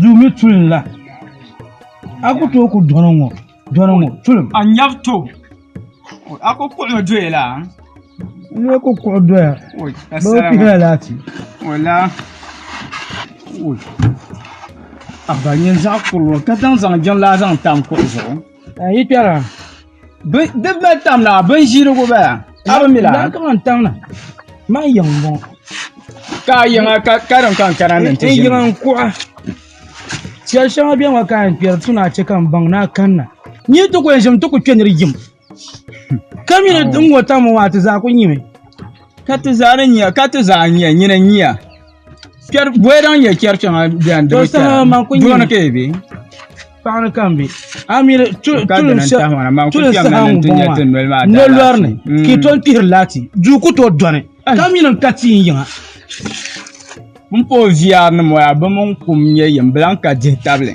duu mi tulim la a ku tooi ku dɔni ŋɔ dɔni ŋɔ tulim a nyɛbi to a ku kuɣu mi doya la n lee ku kuɣu doya bi bi pihila laati wala a ba nyin zaɣ kurili ka zaŋ jiŋlaa zaŋ tam kuɣu zuɣu a yi kpɛra Di bɛ tam na bin ʒirigu bala. A bi mi la. Daa kama n tam na. Maa yiŋ n bɔŋɔ. Ka a yiŋa ka ka din kan kana ni n ti ʒini. Yiŋa n kuɣa. Shɛli shɛŋa bɛ ŋɔ ka n kpɛri tu na chɛ ka n baŋ na kanna. Nyɛ ti ku n ʒim ti ku kpɛ ni di yim. Ka mi ni n ŋɔ tam ŋɔ a ti zaa ku nyimi. Ka ti zaa ni nyɛ ka ti zaa nyɛ nyina nyia. Kpɛri bɔyɛ daŋ nyɛ kpɛri kpɛŋa bɛn di bi kpɛra. Dɔɔni ka yi bɛ. Paɣa ni ka n bɛ a mii tulim saha ŋɔ maa noli lɔri ni ka i tom kpihiri laati duu ku tooi dɔni ka mii ni n ka tia n yiŋa n pa o viɛri ni maa bi mini kum n nyɛ yini bi lahi ka dihi tabili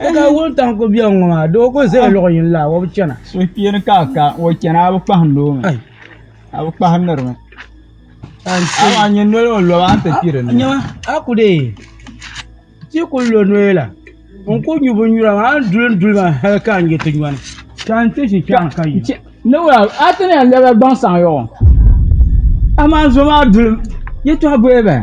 E ka wul taŋ ku biɛŋ ŋɔ maa doo ku zaya luɣu yini la o bi chana. Suhupiini ka ka o chana a bi kpahim doo mi a bi kpahim niri mi. Amaa n-nyɛ noli o loba a ni ti kpi di ni. Nyama a ku dee ti ku lo noli la n ku nyu binnyura maa a ni duli duli maa hali ka n-yi ti nyɔni ka n ti ʒi kpɛriŋ ka yi. Naawuni a ti ni yɛn lɛbigi gbaŋ saŋ ya o amaa n zo maa duli yɛtɔɣa boli bahi.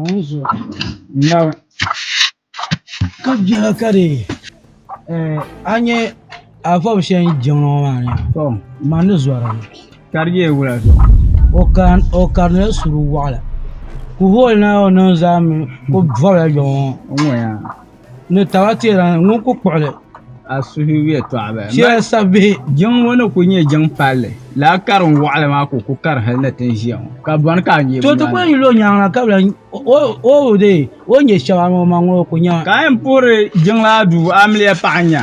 Wuzu naba ka bɛna ka di a nyɛ afɔbu shɛli ni jɛm ŋɔ maa ni ma ni zɔri li ka di nyɛla wula zuɣu o karinila suri waɣila ka o holi naawuni niŋ zaa mi ka o bɔbila yɔŋɔ. ni taba teera ni ŋun ku kpuɣili. A suhu yɛtɔɣ bɛ shɛli sabi bihi. Jiŋ ŋɔ ni ku nyɛ jiŋ palli la karim wɔɣili maa ka o ku kari hali ni ti ni ʒiya ŋɔ, ka bɔni ka a nyɛbu maa ni. To ti ku yɛn yuli o nyaaŋa ka bi lahi oogi dee o ni nyɛ shɛba ni o maŋ ŋɔ o ku nyɛma. Ka a yɛn puhiri jiŋlaa duu amiliya paɣa nya.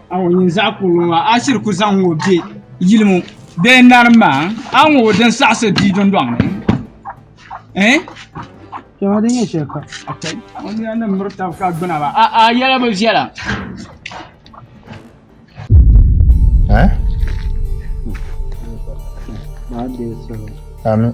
awo yin zaɣ kurili maa a shiri ku zaŋ ŋɔ bɛ yili ŋɔ bee narim maa a ŋɔ din saɣasi bia dundoŋ ni eh? Shɛŋa din nyɛ shɛli ka o nina ni miri tab ka gbina ba a a yɛla bi viɛla eh? Amin.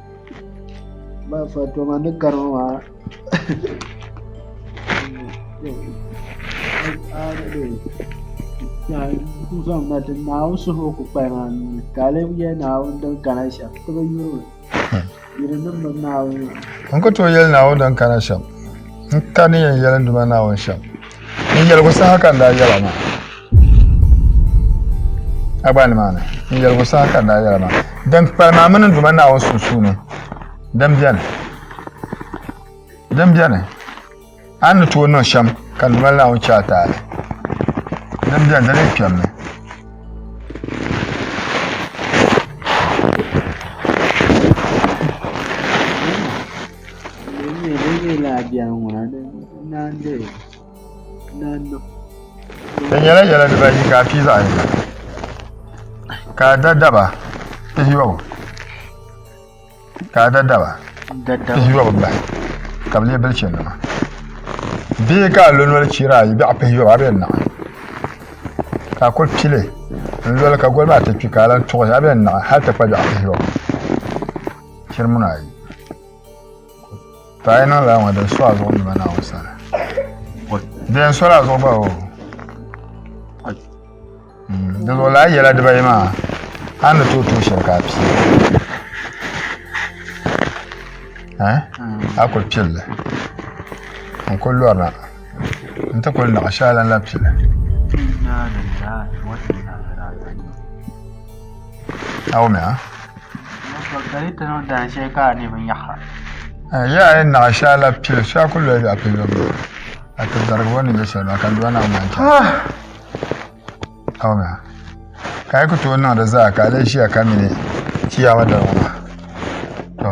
Ba fatoma ni karima maa zaŋ na ti naawuni suhu ku kpali maa nuni ka a lebi yɛli naawuni din kana shɛm ti bi yuri yuri nim bi naawuni n ku tooi yɛli naawuni din kana shɛm n ka ni yɛn yɛli n duma naawuni shɛm N yɛligu saha ka n daa yɛla maa. Agbaa ni maa ni, n yɛligu saha ka n daa yɛla maa. Din kpalim a mini n Duuma Naawuni sunsuuni, din beni, din beni, a ni tooi niŋ shɛm ka n Duuma Naawuni chɛ a taali. Din beni, di lee kpɛmmi. Di nyɛla yɛla dibaayi ka a pii zaɣ yini ka a da daba pihiyɔbu ka a da daba pihiyɔbu bahi ka bi lee bilichi nima bee ka a lo noli chira ayi biɛɣu pihiyɔbu a bi yɛn naɣi ka a ku pili n loli ka goli maa ti kpi ka a lahi tuɣi a bi yɛn naɣi hali ti kpa biɛɣu pihiyɔbu Chɛri muna ayi. Tɔɣa yi niŋ laa ŋɔ din so a zuɣu nima na o sani. Din so la zuɣu gba o. Mm, di zuɣu laa yɛla dibayi maa a ni tooi tuui shɛli ka a pii. Eh? A kuli pilli. N kuli lɔrina. N ti kuli niɣi shɛli lan la pili. Awumea. Ya a yɛn naɣi shɛli la pili so a ku loya yɔɣu pili yɔbu yɔbu a ti darigi o ni nyɛ shɛli maa ka di ba na ŋmaa chɛli Awumea. Ka a yi ku tooi niŋ di zaa ka a lee ʒiya ka mi ni Chiyaama dali ŋɔ maa to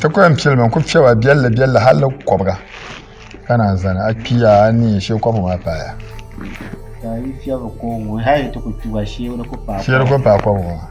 ti ku yɛn piɛli maa ku piɛba biɛlli biɛlli hali kɔbiga ka naan zani a kpiya a ni yɛn shee kɔbiga maa paaya shee di ku paai kɔbiga maa